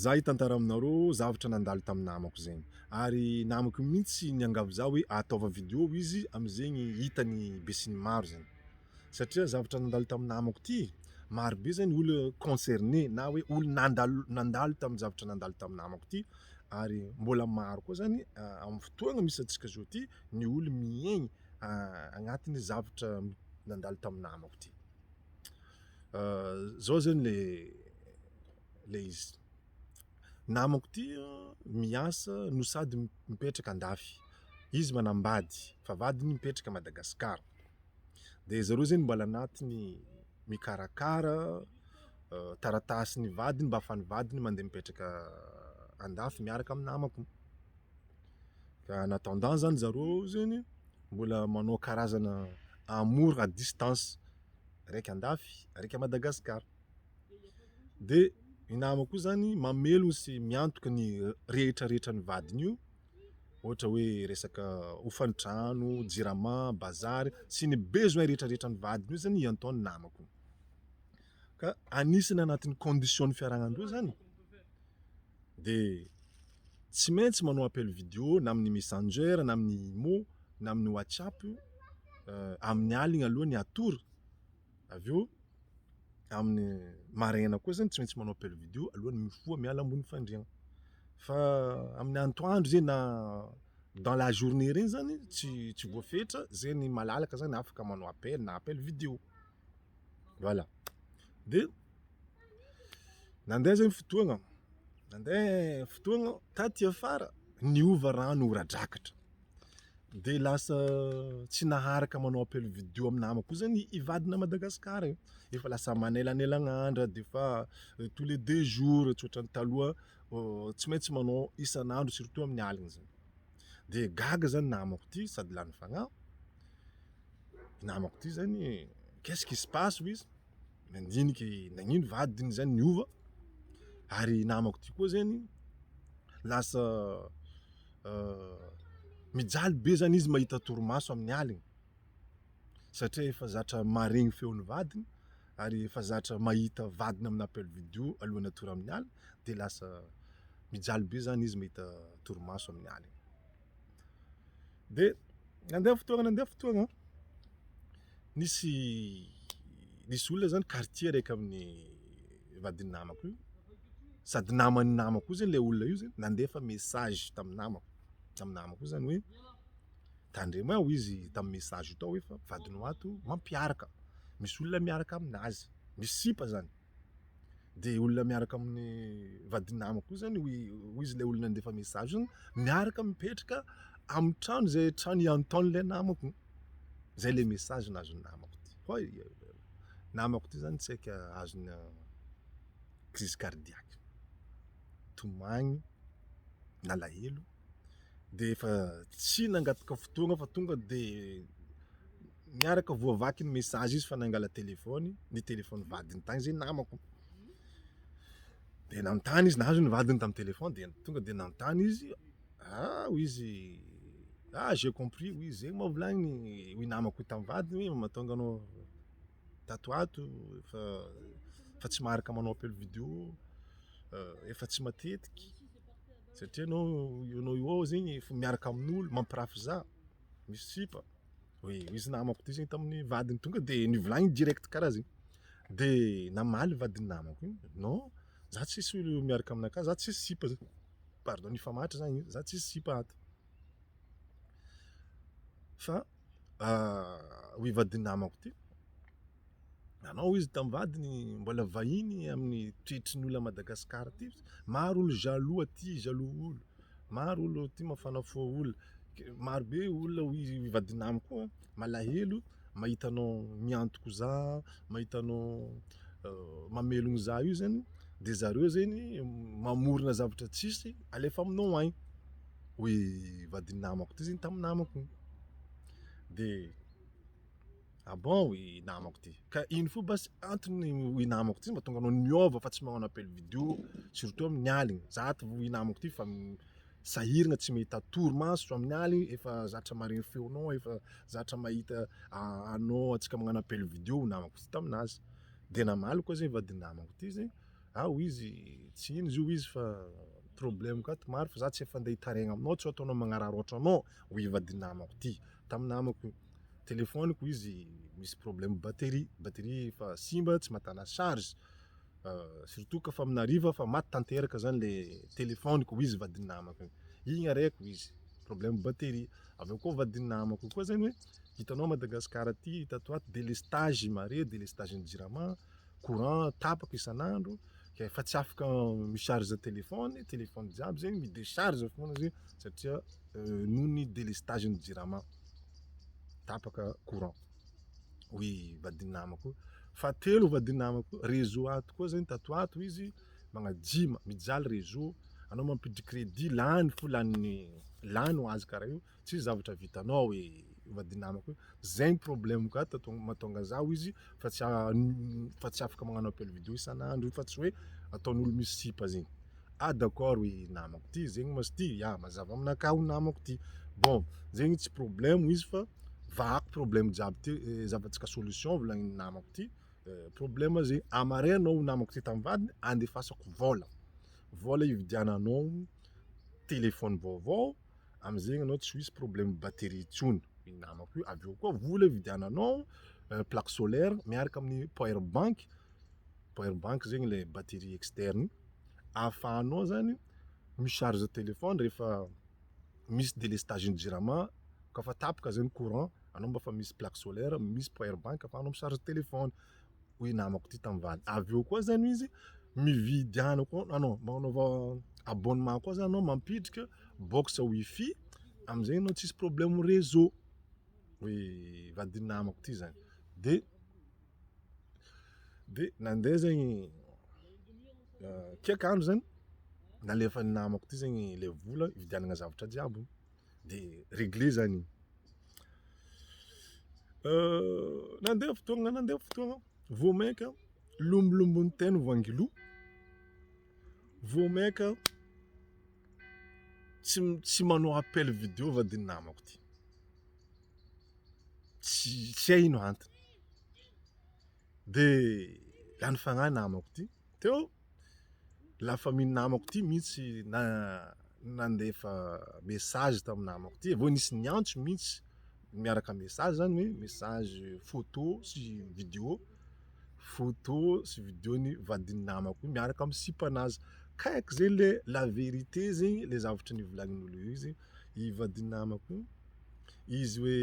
Za hitantara aminareo zavatra nandalo tamin'ny namako zegny ary namako mihitsy niangavy za hoe ataovy video izy amizegny hitany besinimaro zegny satria zavatra nandalo tamin'ny namako ty maro be zany olo concerner na hoe olo nandalo- nandalo tamin'ny zavatra nandalo tamin'ny namako ty ary mbola maro koa zany amin'ny fotoagna misy antsika zao ty ny olo miaigny agnatin'ny zavatra nandalo tamin'ny namako ty. Zao zany le le izy, namako ty miasa no sady mipetraka andafy, izy manambady fa vadiny mipetraka Madagascar, de zareo zany mbola anatiny mikarakara taratasin'ny vadiny mba afahan'ny vadiny mande mipetraka andafy miaraka amin'ny namako, ka en attendant zany zareo zegny mbola manao karazana amour à distance raika andafy raika Madagascar de ny namako koa zany mamelogno sy miantoka ny rehetra rehetra ny vadiny io ohatra hoe resaka hofan-trano, jirama, bazary sy ny besoin rehetra rehetra ny vadiny io zany iantoha ny namako ka anisany anatin'ny condition ny fiaragnandreo zany. de tsy maintsy manao appel video na amin'ny messenger na amin'ny imo na amin'ny whatsapp amin'ny aligna aloha ny hatory avy eo amin'ny maraina koa zany tsy maintsy manao appel video alohan'ny mifoha miala ambony fandriagna fa amin'ny antoandro zay na dans la journée regny zany tsy tsy voafetra zay ny malalaka zany afaka manao appel na appel video. voilà de nandeha zay ny fotoagna nandeha fotoagna taty afara niova rano ora drakatra de lasa tsy naharaka manao appel video amy namako koa zany i vadina à Madagascar e, efa lasa manelanelagna andra de efa tous les deux jours tsy ohatran'ny taloha tsy maintsy manao isan'andro surtout amin'ny aligny zany de gaga zany namako ty sady lany fagnahy. namako ty zany e, qu'est-ce qui se passe hoy izy, nandinika i, nagnino vadiny zany niova, ary i namako ty koa zany lasa mijaly be zany izy mahita torimaso amin'ny alina, satria efa zatra maharegny feon'ny vadiny ary efa zatra mahita vadiny amin'ny appel video alohan'ny hatory amin'ny alina de lasa mijaly be zany izy mahita torimaso amin'ny alina. Dia nandeha ny fotoana nandeha ny fotoana an, nisy nisy olona zany quartier araiky amin'ny vadin'ny namako io, sady naman'ny namako io zany le olona io zany nandefa message tamin'ny namako, tamin'ny namako io zany hoe tandremo a hoy izy tamin'ny message io tao hoe fa vadinao ato mampiaraka, misy olona miaraka aminazy, misy sipa zany. de olona miaraka amin'ny vadin'ny namako io zany hoy hoy izy ilay olona nandefa message iny, miaraka mipetraka amin'ny trano izay trano iantaon'ilay namako, zay le message nazon'ny namako ty, hoy namako ty zany tsy haiko azony crise cardiaque, tomagny, nalahelo, de efa tsy nangataka fotoagna fa tonga de. Niaraka voavaky ny message izy fa nangala téléphone, ny téléphone vadiny tany zay namako, de nanontany izy nahazo ny vadiny tamin'ny téléphone de tonga de nanontany izy, ah hoy izy, ah j'ai compris hoy izy, zegny moa volagniny hoy namako io tamin'ny vadiny hoe mahatonga anao tato ho ato fa fa tsy maharaka manao appel vidéo efa tsy matetiky satria anao eo anao eo ao zegny efa miaraka amin'olo mampirafy za. misy sipa hoe izy namako ity zegny tamin'ny vadiny tonga de nivolagniny direct karaha zegny de namaly vadin'ny namako igny non za tsisy olo miaraka aminaka za tsisy sipa zany pardon nifamatra zany izy za tsisy sipa ato fa hoy vadin'ny namako ty. Nanao izy tamin'ny vadiny, mbola vahiny amin'ny toetry ny olona Madagascar ty. Maro olo jaloux aty, jaloux olo. Maro olo aty mafana fo olo. Maro be olona hoy i vadin'amo koa, malahelo mahita anao miantoko za, mahita anao mamelogno za io zany, de zareo zegny mamorona zavatra tsisy alefa aminao agny, hoy i vadin'amako ty zegny tamin'ny namako igny. De. Ah bon i namako ty. Ka ino fo basy antony i namako ty mba tonga anao niova fa tsy manao appel video surtout amin'ny aligny. Za ty i namako ty fa sahiragna tsy mahita torimaso amin'ny aligny efa zatra maregny feonao efa zatra mahita anao antsika magnano appel video i namako ty taminazy. De namaly koa zay vadinamako ty zay, ah hoy izy tsy ino izy io hoy izy fa problème ka ty maro fa za tsy efa ndeha hitaraigna aminao tsy ho ataonao magnararaotra anao hoy i vadinamako ty taminamako io. telefoniko izy misy problème batterie, batterie efa simba tsy matana charge surtout ka fa amina hariva fa maty tanteraka zany le telefoniko hoy izy vadin'ny namako iny, iny areko hoy izy problème batterie, avy eo koa vadin'ny namako koa zany hoe hitanao Madagascar aty tato ho ato delestage mare delestage ny jirama, courant tapaka isan'andro, efa tsy afaka mi-charge téléphone, téléphone jiaby zegny mi-décharge foana zegny satria euh, noho ny délestage ny jirama tapaka courant hoy vadin'ny namako fa telo vadin'ny namako réseau ato koa zegny tato ato izy magnajima mijaly réseau anao mampiditry crédit lany fo lany lany ho azy karaha io Tsisy zavatra vitanao e vadinamako e, zay ny problème-ko ato ka mahatonga za hoy izy fa tsy fa tsy afaka magnano appel vidéo isan'andro io fa tsy hoe ataon'olo misy sipa zegny, ah d'accord hoy i namako ty zegny ma s'ty ya mazava aminakahy hoy namako ty, bon zegny tsy problème hoy izy fa vahako problème jiaby ty zahavantsika solution volagnin'i namako ty, problème zegny amareo anao hoy namako ty tamin'ny vadiny andefasako vôla, vôla hividiananao téléphone vaovao. amzegny anao tsy ho hisy problème batterie intsony, ny namako io, avy eo koa vola ividiananao plaque solaire miaraka amin'ny power bank, power bank zegny ilay batterie externe ahafahanao zany mi-charge téléphone rehefa misy délestage ny jirama, koa fa tapaka zany courant anao mba efa misy plaque solaire, misy power bank afahanao mi-charge téléphone. hoy namako ty tam vany avy eo koa zany izy mividy any koa ah non magnanaova abonnement koa zany anao mampidrika box wifi amizay anao tsisy problème réseau hoy vadin namako ty zany de de nande zegny kiaky andro zany nalefany namako ty zegny le vola hividianana zavatra jiaby. de regle zany iny euh, nandeha fotoagna nandeha fotoagna vao mainka lombolombo'ny teny vangilo vao mainka tsy tsy manao appel vidéo va de namako ty tsy tsy hay ino antony de lany fagnahy namako ty teo la famille ny namako ity mihitsy nandefa message tamin'ny namako ity, avy eo nisy niantso mihitsy miaraka amin'ny message zany hoe message photo sy vidéo, photo sy vidéo ny vadin'ny namako io miaraka amin'ny sipanazy, kaiky zay le la vérité zegny le zavatra nivolanin'olo io zegny, i vadin'ny namako io izy hoe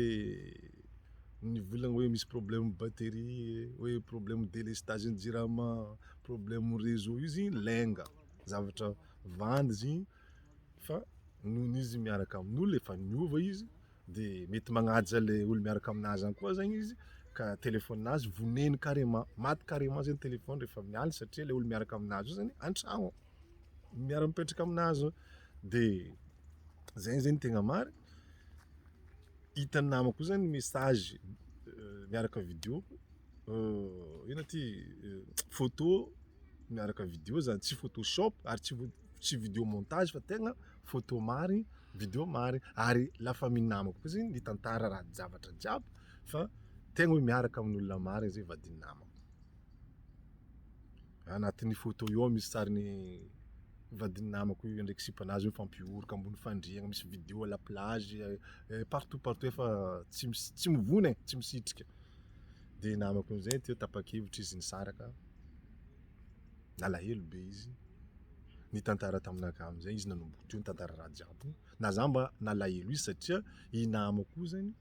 nivolagna hoe misy problème batterie, hoe problème délestage ny jirama. Problème réseau io izy lainga, zavatra vandy izy igny fa noho izy miaraka amin'olo efa niova izy de mety magnaja le olo miaraka aminazy any koa zegny izy ka telefonin'azy vonegny carrement, maty carrement zegny telefony refa amin'ny aligny satria le olo miaraka aminazy io zany an-tragno miara mipetraka aminazy eo de zegny zegny tegna marigny, hitan'ny namako io zany message miaraka vidéo. ina ty photo miaraka video zany tsy photo shop ary tsy tsy video montage fa tegna photo marigny video marigny ary la famille namako koa zegny mitantara raha zavatra jiaby fa tegna hoe miaraka amin'olona marigny zay vadin'ny namako agnatin'ny photo io ao misy sarin'ny vadin'ny namako io ndraiky sipanazy mifampihoroka ambony fandriagna misy video à la plage partout partout efa tsy mis- tsy mivony e tsy misitrika. dia namako amizay teo tapakevitra izy nisaraka, nalahelo be izy, nitantara taminakahy amizay izy nanomboka teo nitantara raha jiaby, na za mba nalahelo izy satria i namako io zany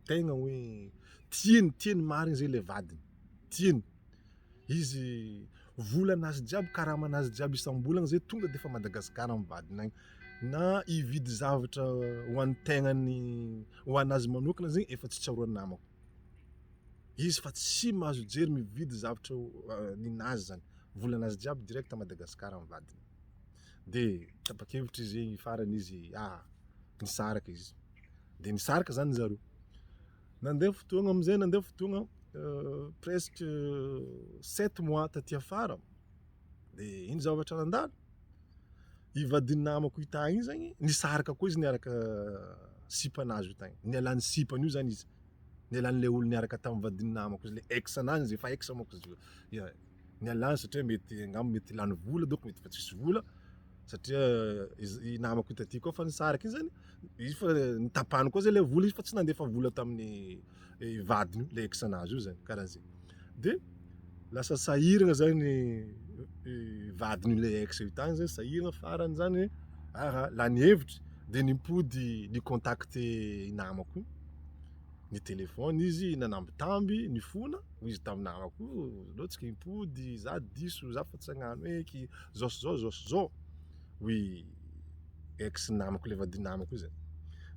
tegna hoe tiany tiany marigny zay le vadiny, tiany. Izy volana azy jiaby karamana azy jiaby isambolana zay tonga de efa Madagascar mivadina agny na hividy zavatra ho an'ny tegnany ho anazy manokana zegny efa tsy tsaroan'ny namako izy fa tsy mahazo jery mividy zavatra ninazy zany volana azy jiaby direct Madagascar mivadina de tapakevitry zegny farany izy ah nisaraka izy de nisaraka zany zareo. Nandeha fotoagna amin'izay nandeha fotoagna presque sept mois taty afara de ino zavatra nandalo i vadin'ny namako io tagny io zagny nisaraka koa izy niaraka sipanazy io tagny nialan'ny sipany io zany izy nialan'ilay olo niaraka tamin'ny vadin'ny namako izy le ex anany izy efa ex manko izy io ya. Nialany satria mety angamba mety lany vola donc mety efa tsisy vola satria i namako hita aty koa fa nisaraka iny zany izy fa nitapahany koa zay le vola izy fa tsy nandefa vola tamin'ny eh, vadiny le ex nazy io zany karaha zay de lasa sahiragna zany eh, vadiny le ex io tany zany sahiragna farany zany aha lany hevitra de nimpody ni contacter i namako io nitelefona izy nanambitamby nifona hoy izy tamin'ny namako oh, aleo tsika impody za diso za fa tsy agnano hoe ki zao sy zao zao sy zao hoy ex namako le vadinamako io zany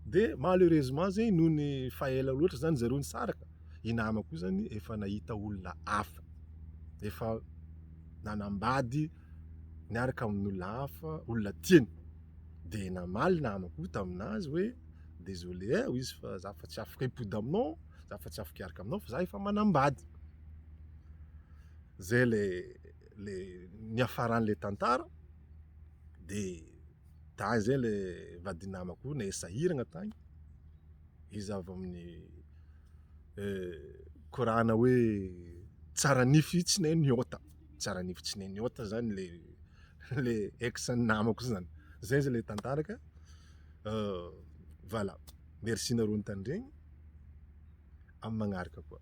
de malheureusement zegny noho ny faela loatra zany zareo nisaraka i namako io zany efa nahita olona hafa efa nanambady niaraka amin'olona hafa olona tiany de namaly namako io taminazy hoe Désolé eh hoy izy fa za efa tsy afaka hipody aminao, za efa tsy afaka hiaraka aminao fa za efa manambady. Zay le le niafaran'le tantara de tany zay le vadinamako ne sahiragna tany, izy avy amin'ny korana hoe tsara nify tsy ne niota, tsara nify tsy ne niota zany le le ex-ny namako zany, zay zany le tantara ka. Voilà. Merci nareo nitandregny. Amin'ny magnaraka koa.